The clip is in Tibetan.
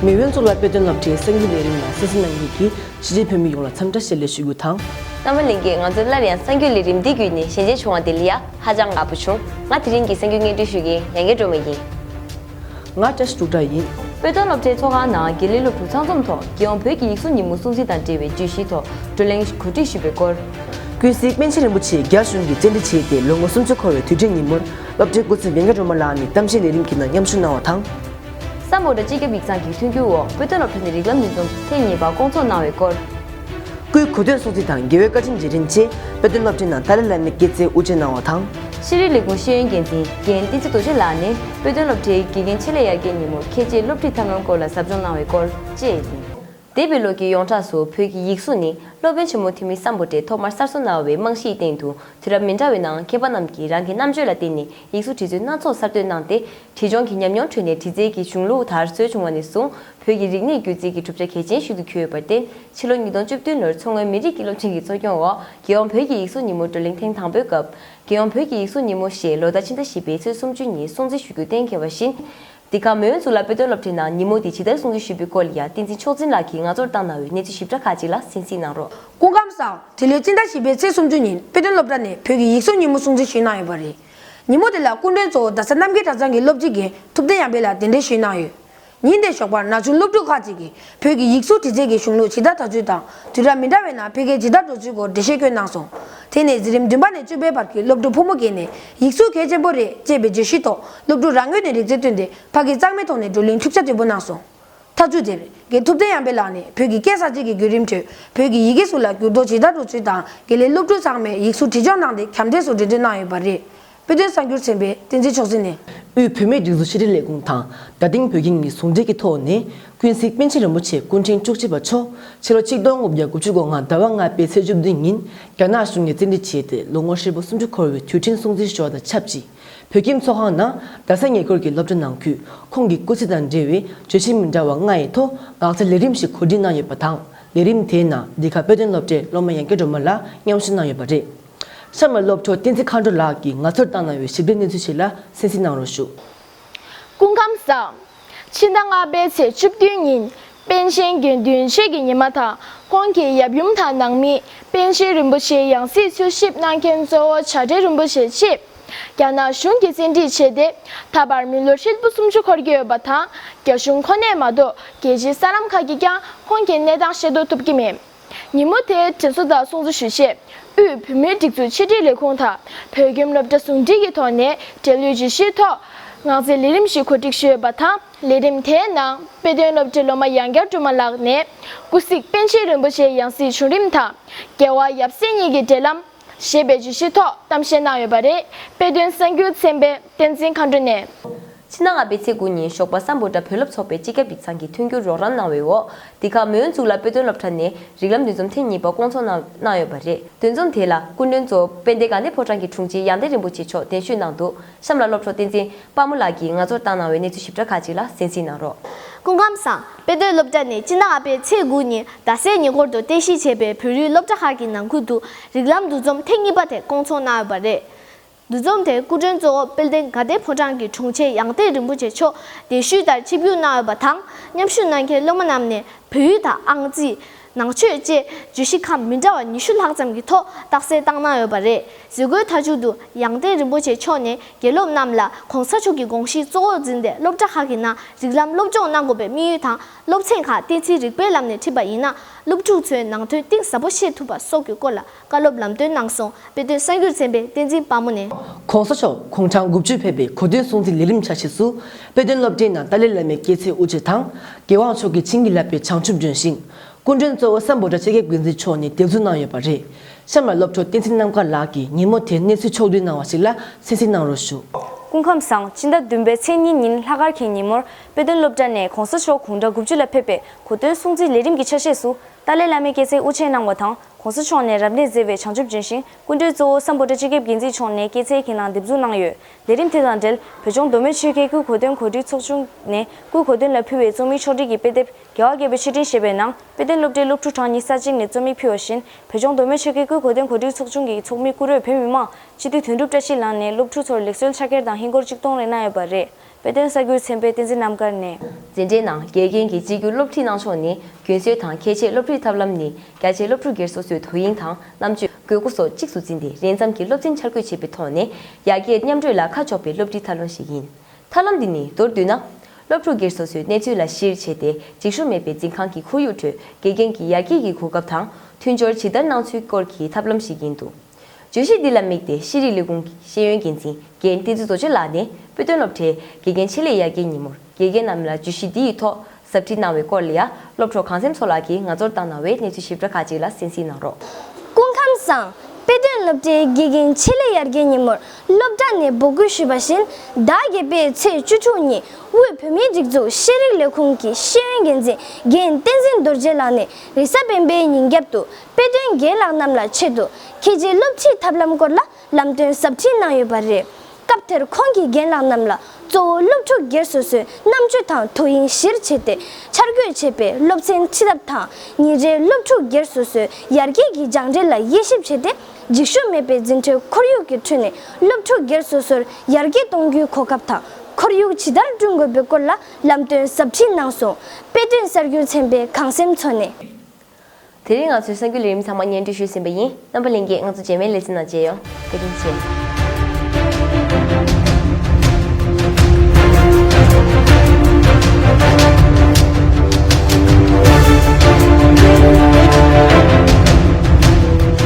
མེས་དབོན་གཙུག་ལག་དཔེ་སྟོན་སློབ་གྲྭའི་སངས་རྒྱས་ལས་རིམ་ལ་སྲིད་ཞི་ནང་སྐྱིད་ཀྱིས་གཞིས་བྱེས་བོད་མི་ཡོངས་ལ་འཚམས་འདྲ་བྱེད་ལས་ཞུ་རྒྱུ་དང། རྣམ་པ་ལེན་གྱིས་ང་ཚོར་སླར་ཡང་སངས་རྒྱས་ལས་རིམ་འདི་བརྒྱུད་ནས་ཞལ་མཇལ་བྱུང་བ་དེ་ལ་ཡ་ཧ་ཅང་དགའ་པོ་བྱུང། ང་དེ་རིང་གི་སངས་རྒྱས་སྔས་འགྲོའི་ཞུ་མཁན་ཡང་མཁས་གྲུབ་མ་ཡིན། ང་བཀྲ་ཤིས་འབྲུག་སྒྲ་ཡིན། དཔེ་སྟོན་སློབ་གྲྭའི་ཚོགས་ཁང་ནང་དགེ་ལས་སློབ་ཕྲུག་ཚང་འཛོམས་ཐོག་རྒྱལ་ཡོངས་བོད་ཀྱི་ཡིག་གཟུགས་ཉིན་མོ་སྲུང་བརྩི་དང་འབྲེལ་བའི་བརྗོད་གཞིའི་ཐོག་བགྲོ་གླེང་གོ་སྒྲིག་ཞུས་པའི་སྐོར། ཀུན་གཟིགས་པཎ་ཆེན་རིན་པོ་ཆེས་རྒྱ་གཞུང་གིས་བཅད་འདྲི་བྱས་ཏེ་ལོ་ངོ་སུམ་ཅུ་འཁོར་བའི་དུས་དྲན་ཉིན་མོར་སློབ་གྲྭའི་འགོ་འཛིན་བན་ག་རོ་མ་ལགས་ནས་གཏམ་བཤད་ལས་རིམ་གྱི་ནང་མཉམ་ཞུགས་གནང་བ་དང། ས་མོ་སྒྲ་སྤྱི་ཁྱབ་ཡིག་ཚང་གི་མཐུན་འགྱུར་འོག་དཔེ་སྟོན་སློབ་གྲྭ་ནས་རིགས་ལམ་ཉིས་འཛོམས་ཐེངས་གཉིས་པ་བསྐོང་ཚོགས་གནང་བའི་སྐོར། སྐུའི་གོ་ཐོས་སོགས་ཚིག་དང་དགེ་བའི་བཀའ་ཆེམས་རྗེས་དྲན་ཆེད་དཔེ་སྟོན་སློབ་ཁྲིད་ནང་ཏཱ་ལའི་བླ་མའི་སྐེ་ཚེའི་དབུ་འབྱེད་གནང་བ་དང། ཤེས་རིག་ལས་ཁུངས་ཤེས་ཡོན་འགན་འཛིན་རྒན་བསྟན་འཛིན་རྡོ་རྗེ་ལགས་ནས་དཔེ་སྟོན་སློབ་ཁྲིད་དགེ་རྒན་ཆེད་ལས་ཡར་རྒྱས་ཉིན་མོར་ཁྱེད་ཀྱིས་སློབ་ཁྲིད་ཐབས་ལམ་སྐོར་ལ་ཟབ་སྦྱོང་གནང་བའི་སྐོར་བཅས་ཡིན། འདས་པའི་ལོ་གྱི་ཡོངས་གྲགས་སུ་བོད་ཀྱི་ཡིག་གཟུགས་ནི་སློབ་དཔོན་ཆེན་མོ་ཐོན་མིས་བསམ་བོ་ཏེ་ཐོག་མར་གསར་བཟོ་གནང་བའི་རྨང་གཞིའི་སྟེང་དུ་དུས་རབས་མི་འདྲ་བའི་ནང་མཁས་པ་རྣམས་ཀྱིས་རང་གི་རྣམ་དཔྱོད་ལ་བརྟེན་ནས་ཡིག་གཟུགས་བྲིས་རྩོད་སྣ་ཚོགས་གསར་གཏོད་གནང་སྟེ་བྲིས་སྦྱོང་གི་ཉམས་མྱོང་ཁྲོད་ནས་བྲིས་རྩལ་གྱི་གཞུང་ལུགས་དར་སྲོལ་བྱུང་བ་ནས་བཟུང་བོད་ཀྱི་རིག་གནས་སྒྱུ་རྩལ་གྱི་གྲུབ་ཆ་གལ་ཆེན་ཞིག་ཏུ་གྱུར་ཡོད་པར་བརྟེན་ཕྱི་ལོ་ཉིས་སྟོང་བཅུ་བདུན་ལོར་མཚོ་སྔོན་མི་རིགས་དགེ་སློབ་ཆེན་གྱི་གཙོ་སྐྱོང་འོག་རྒྱལ་ཡོངས་བོད་ཀྱི་ཡིག་གཟུགས་ཉིན་མོ་བགྲོ་གླེང་ཐེངས་དང་པོའི་སྐབས། རྒྱལ་ཡོངས་བོད་ཀྱི་ཡིག་གཟུགས་ཉིན་མོ་ཞེས་ལོ་ཟླ་ཕྱི་ཟླ་བཞི་པའི་ཚེས་སུམ་ཅུ་ཉིན་སྲུང་བརྩི་ཞུ་རྒྱུ་གཏན་འཁེལ་བ་བཞིན། འདི་ག་མོན་གཙུག་ལག་དཔེ་སྟོན་སློབ་གྲྭའི་ནང་ཉིན་མོ་འདི་ཇི་ལྟར་སྲུང་བརྩི་ཞུས་པའི་སྐོར་ལ་ཡང་བསྟན་འཛིན་མཆོག་འཛིན་ལགས་ཀྱིས་ང་ཚོར་བཏང་གནང་བའི་གནས་ཚུལ་ཞིབ་ཕྲ་ཁག་ཅིག་ལ་གཟིགས་ཚིག་གནང་རོགས། སྐུ་ཁམས་བཟང། དེ་ལོའི་སྤྱི་ཟླ་བཞི་པའི་ཚེས་སུམ་ཅུ་ཉིན་དཔེ་སྟོན་སློབ་གྲྭ་ནས་བོད་ཀྱི་ཡིག་གཟུགས་ཉིན་མོ་སྲུང་བརྩི་ཞུས་གནང་ཡོད་པ་རེད། ཉིན་མོ་དེ་ལ་སྐུ་མགྲོན་གཙོ་བོ་རྡ་ས་རྣམ་རྒྱལ་གྲྭ་ཚང་གི་སློབ་སྤྱི་དགེ་ཐུབ་བསྟན་ཡངས་དཔལ་ལགས་གདན་འདྲེན་ཞུས་གནང་ཡོད། ཉིན་དེའི་ཞོགས་པར་ན་ཆུང་སློབ་ཕྲུག་ཁག་ཅིག་གིས་བོད་ཀྱི་ཡིག་གཟུགས་འབྲི་རྩལ་གྱི་གཞུང་ལུགས་ཇི་ལྟར་དར་ཚུལ་དང་དུས་རབས་མི་འདྲ་བའི་ནང་འཕེལ་རྒྱས་ཇི་ལྟར་འགྲོ་ཚུལ་སྐོར་འགྲེལ་བཤད་བཀོད་གནང་སོང། དེ་ནས་གཟི་རིམ་བདུན་པ་ནས་བཅུ་པའི་བར་གྱི་སློབ་ཕྲུག་ཕོ་མོ་བརྒལ་ནས་ཡིག་གཟུགས་གལ་ཆེན་པོ་རེད་ཅེས་པའི་བརྗོད་གཞིའི་ཐོག་སློབ་ཕྲུག་རང་ངོས་ནས་རིག་རྩལ་བཏོན་ཏེ་ཕ་གིས་གཙང་མའི་ཐོག་ནས་བགྲོ་གླེང་འཁྲུག་ཆ་དོད་པོ་གནང་སོང། ཐག་ཚུད་དེར་དགེ་ཐུབ་བསྟན་གཡང་འཕེལ་ལགས་ནས་བོད་ཀྱི་སྐད་གསར་བརྗེ་གི་བརྒྱུད་རིམ་ཁྲོད་བོད་ཀྱི་ཡི་གེ་གཟུགས་ལ་འགྱུར་ལྡོག་ཇི་ལྟར་འགྲོ་ཚུལ་དང་དགེ་ལས་སློབ་ཕྲུག་ཚང་མས་ཡིག་གཟུགས་བྲིས་སྦྱོང་གནང་སྟེ་གྱམ་འདྲེས་སུ་འགྲེལ་བརྗོད་གནང་ཡོད་པ་རེད། དཔེ་སྟོན་གསར་འགྱུར་ཚན་པས་བསྟན་འཛིན་མཆོག་འཛིན་ནས། དབུས་བུད་མེད་སྒྲིག་འཛུགས་ཤེས་རིག་ལས་ཁུངས་དང་དགའ་ལྡན་བོད་ཁྱིམ་གཉིས་ཟུང་འབྲེལ་གྱི་ཐོག་ནས་ཀུན་གཟིགས་པཎ་ཆེན་རིན་པོ་ཆེ་སྐུ་ཕྲེང་བཅུ་གཅིག་པ་མཆོག་ཕྱི་ལོ་ཆིག་སྟོང་དགུ་བརྒྱ་དགུ་ཅུ་གོ་ལྔ་ཟླ་བ་ལྔ་པའི་ཚེས་བཅུ་བདུན་ཉིན་རྒྱ་ནག་གཞུང་ནས་བཙན་ཁྲིད་བྱས་ཏེ་ལོ་ངོ་ཧྲིལ་པོ་སུམ་ཅུ་འཁོར་བའི་དུས་དྲན་སྲུང་བརྩི་ཞོར་དང་ཆབས་ཅིག་བོད་ཁྱིམ་ཚོགས་ཁང་ནང་རྡ་ས་ཉེ་འཁོར་གྱི་སློབ་གྲྭ་ནང་ཁུལ་ཁོང་གི་སྐུ་ཚེ་དང་འབྲེལ་བའི་བརྗོད་གཞི་མི་འདྲ་བ་ལྔ་ཡི་ཐོག་ངག་བཅད་ལས་རིམ་ཞིག་གོ་སྒྲིག་གནང་ཡོད་པ་དང་ལས་རིམ་དེའི་ནང་འདི་ག་དཔེ་སྟོན་སློབ་གྲྭའི་སློབ་མ་ཡང་སྐྱིད་སྒྲོལ་མ་ལགས་མཉམ་ཞུགས་གནང་ཡོད་པ་རེད། ཤར་མ་སློབ་གྲོགས་བསྟན་འཛིན་མཁའ་འགྲོ་ལགས་ཀྱིས་ང་ཚོར་བཏང་གནང་བའི་ཞིབ་ལྟའི་གནས་ཚུལ་ཞིག་ལ་གསན་གཟིགས་གནང་རོགས་ཞུ། སྐུ་ཁམས་བཟང། ཕྱི་ཟླ་ལྔ་པའི་ཚེས་བཅུ་བདུན་ཉིན་པཎ་ཆེན་དགེ་འདུན་ཆོས་ཀྱི་ཉི་མ་དང་ཁོང་གི་ཡབ་ཡུམ་དང་ནང་མི་པཎ་ཆེན་རིན་པོ་ཆེའི་ཡང་སྲིད་འཚོལ་ཞིབ་གནང་མཁན་གཙོ་བོ་བྱ་བྲལ་རིན་པོ་ཆེ་ཆེས་རྒྱ་ནག་གཞུང་གིས་བཙན་ཁྲིད་བྱས་ཏེ་ད་བར་མི་ལོ་ཧྲིལ་པོ་སུམ་ཅུ་འཁོར་གྱི་ཡོད་པ་དང་རྒྱ་གཞུང་ཁོ་ནས་མ་གཏོགས་རྒྱལ་སྤྱིའི་གསར་ལམ་ཁག་གིས་ཀྱང་ཁོང་གི་གནས་སྟངས་ཤེས་རྟོགས་ཐུབ་ཀྱི་མེད། ཉིན་མོ་དེ་དྲན་གསོ་དང་སྲུང་གཙི་ཞུ་ཆེད་དབུས་བོད་མིའི་སྒྲིག་འཛུགས་ཕྱི་དྲིལ་ལས་ཁུངས་དང་བོད་ཁྱིམ་སློབ་གྲྭ་ཟུང་འབྲེལ་གྱི་ཐོག་ནས་འབྲེལ་ཡོད་ཇུས་གཞིའི་ཐོག་ངག་རྩིས་ལས་རིམ་ཞིག་གོ་སྒྲིག་ཞུས་པ་དང་ལས་རིམ་དེའི་ནང་དཔེ་སྟོན་སློབ་གྲྭའི་སློབ་མ་ཡང་བསྐྱར་དྲུང་མ་ལགས་ནས་སྐུ་གཟིགས་པཎ་ཆེན་རིན་པོ་ཆེའི་ཡང་སྲིད་བྱུང་རིམ་དང་རྒྱལ་བ་ཡབ་སྲས་གཉིས་ཀྱི་འབྲེལ་ལམ། ཞེས་པའི་བརྗོད་གཞིའི་ཐོག་གཏམ་བཤད་གནང་ཡོད་པ་རེད། དཔེ་སྟོན་གསར་འགྱུར་ཚན་པས་བསྟན་འཛིན་མཁའ་འགྲོ་ནས། ཕྱི་ཟླ་ལྔ་པའི་ཚེས་དགུ་ཉིན་ཞོགས་པ་སམ་བོད་དྲ་བོད་སློབ་ཚོགས་པའི་སྤྱི་ཁྱབ་ཡིག་ཚང་གིས་མཐུན་འགྱུར་རོགས་རམ་གནང་བའི་འོག་འདི་ག་མོན་གཙུག་ལག་དཔེ་སྟོན་སློབ་གྲྭ་ནས་རིགས་ལམ་འདུ་འཛོམས་ཐེངས་གཉིས་པ་སྐོང་ཚོགས་གནང་ཡོད་པ་རེད་འདུ་འཛོམས་དེ་ལ་སྐུ་མགྲོན་གཙོ་དཔེ་འདི་ག་ནེ་ཕོ་ཁྲང་གི་དྲུང་ཆེ་ཡང་ཏན་རིན་པོ་ཆེ་མཆོག་གདན་ཞུས་གནང་འདུག་གཤམ་ལ་སློབ་གྲོགས་བསྟན་འཛིན་དཔའ་མོ་ལགས་ཀྱིས་ང་ཚོར་བཏང་གནང་བའི་གནས་ཚུལ་ཞིབ་ཕྲ་ཁག་ཅིག་ལ་གསན་གཟིགས་གནང་རོགས། སྐུ་ཁམས་བཟང། དཔེ་སྡོད་སློབ་གྲྭ་ནས་སྤྱི་ཟླ་ལྔ་པའི་ཚེས་དགུ་ཉིན་རྡ་སའི་ཉེ་འཁོར་དུ་རྟེན་གཞི་བྱས་པའི་བོད་རིགས་སློབ་གྲྭ་ཁག་གི་ནང་ཁུལ་དུ་རིགས་ལམ་འདུ་འཛོམས་ཐེངས་གཉིས་པ་དེ་སྐོང་ཚོགས་གནང་ཡོད་པ་རེད། འདུ་འཛོམས་དེར་སྐུ་མགྲོན་གཙོ་བོ་དཔལ་ལྡན་དགའ་ལྡན་ཕོ་བྲང་གི་དྲུང་ཆེ་ཡང་ཏིག་རིན་པོ་ཆེ་མཆོག་གདན་ཞུས་ལྟར་ཆིབས་བསྒྱུར་གནང་ཡོད་པ་དང་མཉམ་ཞུགས་གནང་མཁན་སློབ་མ་རྣམས་ནས་བོད་ཡིག་དང་ཨང་རྩིས། ནང་ཆོས་བཅས་བརྗོད་གཞི་ཁམས་མི་འདྲ་བ་ཉི་ཤུ་ལྷག་ཙམ་གྱི་ཐོག་རྟགས་གསལ་བཏང་གནང་ཡོད་པ་རེད། བཟོད་སྒོའི་མཐའ་མཇུག་ཏུ་ཡང་ཏན་རིན་པོ་ཆེ་མཆོག་ནས་དགེ་སློབ་རྣམས་ལ ྋགོང་ས་མཆོག་གི་དགོངས་གཞི་གཙོ་བོར་འཛིན་ཏེ་སློབ་གྲྭ་ཁག་གི་ནང་རིགས་ལམ་སློབ་སྦྱོང་གནང་དགོས་པའི་དམིགས་ཡུལ་དང་སློབ་ཚན་ཁག་བསྟན་ཚིག་རིག་པའི་ལམ་ནས་ཁྲིད་པ་ཡིན་ན་སློབ་ཕྲུག་ཚོའི་ནང་དོན་གཏིང་ཟབ་པོ་ཤེས་ཐུབ་པ་སོགས་ཀྱི་སྐོར་ལ་བཀའ་སློབ་ལམ་སྟོན་གནང་སོང་དཔེ་སྟོན་གསར་འགྱུར་ཚན་པའི་བསྟན་འཛིན་དཔའ་མོ་ནས། གོང་ས་མཆོག་ཁོང་གྲངས་དགུ་བཅུ་ཕེབས་པའི་གོ་སྟོན་སྲུང་བརྩི་ལས་རིམ་ཆ་ཤས་སུ། དཔེ་སྟོན་སློབ་གྲྭའི་ནང་ཏཱ་ལའི་བླ་མའི་སྐྱེས་ཚེས་དབུ་འབྱེད་དང། རྒྱལ་དབང་མཆོག་གིས་བྱིན་གྱིས་བརླབས་པའི་བྱང་ཆུབ་ལྗོན་ཤིང། སྐུ་མགྲོན་གཙོ་བོ་ས་འབོ་དྲ་ཕྱེད་སྐད་འགོས་འཛིན་མཆོག་ནས་དེབ་འཛུགས་གནང་ཡོད་པ་རེད། གཤམ་ལ་སློབ་ཕྲུག་བསྟན་འཛིན་རྣམ་དཀར་ལགས་ཀྱིས་ཉིན་མོ་དེའི་གནས་ཚུལ་ཕྱོགས་བསྡུས་གནང་བ་ཞིག་ལ་གསན་གཟིགས་གནང་རོགས་ཞུ། སྐུ་ཁམས་བཟང་སྤྱི་ཟླ་བདུན་པའི་ཚེས་གཉིས་ཉིན་ལྷག་སྐར་གྱི་ཉིན་མོར་དཔེ་སྟོན་སློབ་གྲྭ་ནས་གོང་ས་མཆོག་གུང་གྲངས་དགུ་བཅུ་ལ་ཕེབས་པའི་གོ་སྟོན་སྲུང་བརྩི་ལས་རིམ་གྱི་ཆ་ཤས་སུ་ཏཱ་ལའི་བླ་མའི་སྐྱེས་ཚེས་དབུ་འབྱེད་གནང་བ་དང། གོང་ས་མཆོག་ནས་རབ་གནས་མཛད་པའི་བྱང་ཆུབ་ལྗོན་ཤིང་སྐུ་མགྲོན་གཙོ་བོ་ས་འབོ་སྤྲ་སྤྱི་ཁྱབ་འགན་འཛིན་མཆོག་ནས་སྐྱེད་ཚལ་གྱི་ནང་འདེབས་འཛུགས་གནང་ཡོད། ལས་རིམ་དེ་དང་འབྲེལ་བོད་ལྗོངས་མདོ་སྨད་ཆོལ་ཁའི་སྐུའི་གོ་སྟོན་གོ་སྒྲིག་ཚོགས་ཆུང་ནས་སྐུའི་གོ་སྟོན་ལ་ཕུལ་བའི་རྩོམ་ཡིག་ཕྱོགས་བསྒྲིགས་ཀྱི་དཔེ་དེབ་རྒྱལ་བ་དགྱེས་པའི་ཆེ་འབྲིང་ཞེས་པའི་ནང་དཔེ་སྟོན་སློབ་གྲྭའི་སློབ་ཕྲུག་གྲངས་ཉིས་ས་གཅིག་ནས་རྩོམ་ཡིག་ཕུལ་བ་བཞིན་བོད་ལྗོངས་མདོ་སྨད་ཆོལ་ཁའི་སྐུའི་གོ་སྟོན་གོ་སྒྲིག་ཚོགས་ཆུང་གི་ཚོགས་མི་སྐུ་རོལ་བོད་མི་མང་སྤྱི་འཐུས་དོན་གྲུབ་བཀྲ་ཤིས་ལགས་ནས་སློབ་ཕྲུག་ཚོར་ལེགས་གསོལ་ཕྱག་འཁྱེར་དང་ཧིན་སྒོར་གཅིག་གཏོང་རེ་གནང་ཡོད་པ་རེད། དཔལ་ལྡན་ས་སྐྱའི་མཚན་དཔེ་བསྟན་འཛིན་རྣམ་དཀར་ནས། འཛིན་གྲྭའི་ནང་དགེ་རྒན་གྱི་གཅིག་གྱུར་སློབ་ཁྲིད་གནང་ཕྱོགས་ནི་རྒྱུན་སྲོལ་དང་ཁྱད་ཆེ་སློབ་ཁྲིད་ཐབས་ལམ་ནི་རྒྱ་ཆེ་སློབ་ཕྲུག་སྒེར་སོ་སོས་དོ་དབྱིངས་དང་རྣམ་དཔྱོད་དགོས་མཁོ་སོགས་གཅིག་ཏུ་འཛིན་ཏེ་རན་འཚམ་གྱི་སློབ་ཚན་འཆར་འགོད་བྱེད་པའི་ཐོག་ནས་ཡར་རྒྱས་མཉམ་གྲོས་ལ་ཁ་ཕྱོགས་པའི་སློབ་ཁྲིད་ཐབས་ལམ་ཞིག་ཡིན། ཐབས་ལམ་འདི་ནི་མདོར་བསྡུས་ན། སློབ་ཕྲུག་སྒེར་སོ་སོའི་གནས་ཚུལ་ལ་གཞིར་བྱས་ཏེ་འགྱིག་ཤོ་མེད་པའི་འཛིན་ཁང་གི་ཁོར་ཡུག་ཁྲོད་དགེ་རྒན་གྱི་ཡར་རྒྱས་ཀྱི་གོ་སྐབས་དང་མཐུན་སྦྱོར་ཇི་ལྟར་གནང་ཚུལ་སྐོར་གྱི་ཐབས་ལམ་ཞིག་ཡིན་འདུག། བརྗོད་གཞི་འདི་ལ་དམིགས་ཏེ་ཤེས་རིག་ལས་ཁུངས་ཀྱི་ཤེས་ཡོན་འགན་འཛིན་རྒན་བསྟན་འཛིན་བཟོ་བཅོས་ལགས་ནས་དཔེ་སྟོན་སློབ་གྲྭའི་དགེ་རྒན་ཆེད་ལས་ཡར་རྒྱས་ཉིན་མོར་དགེ་རྒན་རྣམས་ལ་བརྗོད་གཞི་འདི་ཡི་ཐོག་ཟབ་ཁྲིད་གནང་བའི་སྐོར་ལ་ཡ་སློབ་གྲོགས་གངས་སེམས་མཚོ་ལགས་ཀྱིས་ང་ཚོར་བཏང་གནང་བའི་གནས་ཚུལ་ཞིབ་ཕྲ་ཁག་ཅིག་ལ་གསན་གཟིགས་གནང་རོགས། སྐུ་ཁམས་བཟང། དཔེ་སྟོན་སློབ་གྲྭའི་དགེ་རྒན་ཆེད་ལས་ཡར་རྒྱས་ཉིན་མོར་སློབ་གྲྭ་ནས་འབོད་སྐུལ་ཞུས་པ་བཞིན་ཟླ་བརྒྱད་པའི་ཚེས་བཅུ་དྲུག་ཉིན་དབུས་བོད་མིའི་སྒྲིག་འཛུགས་ཤེས་རིག་ལས་ཁུངས་ཀྱི་ཤེས་ཡོན་འགན་འཛིན་རྒན་བསྟན་འཛིན་རྡོ་རྗེ་ལགས་ནས་རེས་གཟའ་སྤེན་པའི་ཉིན་རྒྱབ་ཏུ་དཔེ་སྟོན་རྒན་ལགས་རྣམས་ལ་ཆེད་དུ་ཁྱེད་ཀྱི་སློབ་ཁྲིད་ཐབས་ལམ་སྐོར་ལ་ལམ་སྟོན་གཟབ་ཁྲིད་གནང་ཡོད་པ་རེད། སྐབས་དེར་ཁོང་གིས་རྒན་ལགས་རྣམས་ལ་གཙོ་བོ་སློབ་ཕྲུག་སྒེར་སོ་སོའི་རྣམ་དཔྱོད་དང་དོ་དབྱིངས་གཞིར་བྱས་ཏེ་འཆར་འགོད་བྱས་པའི་སློབ་ཚན་ཁྲིད་ཐབས་དང་ཉིན་རེའི་སློབ་ཕྲུག་སྒེར་སོ་སོའི་ཡར་རྒྱས་ཀྱི་སྦྱངས་འབྲས་ལ་དབྱེ་ཞིབ་བྱས་ཏེ་འགྱིག་ཤུབས་མེད་པའི་འཛིན་གྲྭའི་ཁོར་ཡུག་གི་ཁྲོད་ནས་སློབ་ཕྲུག་སྒེར་སོ་སོར་ཡར་རྒྱས་གཏོང་རྒྱུའི་གོ་སྐབས་དང་ཁོར་ཡུག་ཇི་ལྟར་བསྐྲུན་དགོས་པའི་སྐོར་ལ་ལམ་སྟོན་གཟབ་ཁྲིད་གནང་སོང། དཔེ་སྟོན་གསར་འགྱུར་ཚན་པས་གངས་སེམས་མཚོ་ནས། དེ་རིང་ང་ཚོས་གསར་འགྱུར་ལས་རིམ་ཚང་མ་བརྙན་འཕྲིན་ཞུས་ཟིན་པ་ཡིན། རྣམ་པ་ལེན་རྗེས་ང་ཚོ་རྗེས་མའི་ལེ་ཚན་ནང་མཇལ་ཡོང། བཀའ་དྲིན་ཆེ།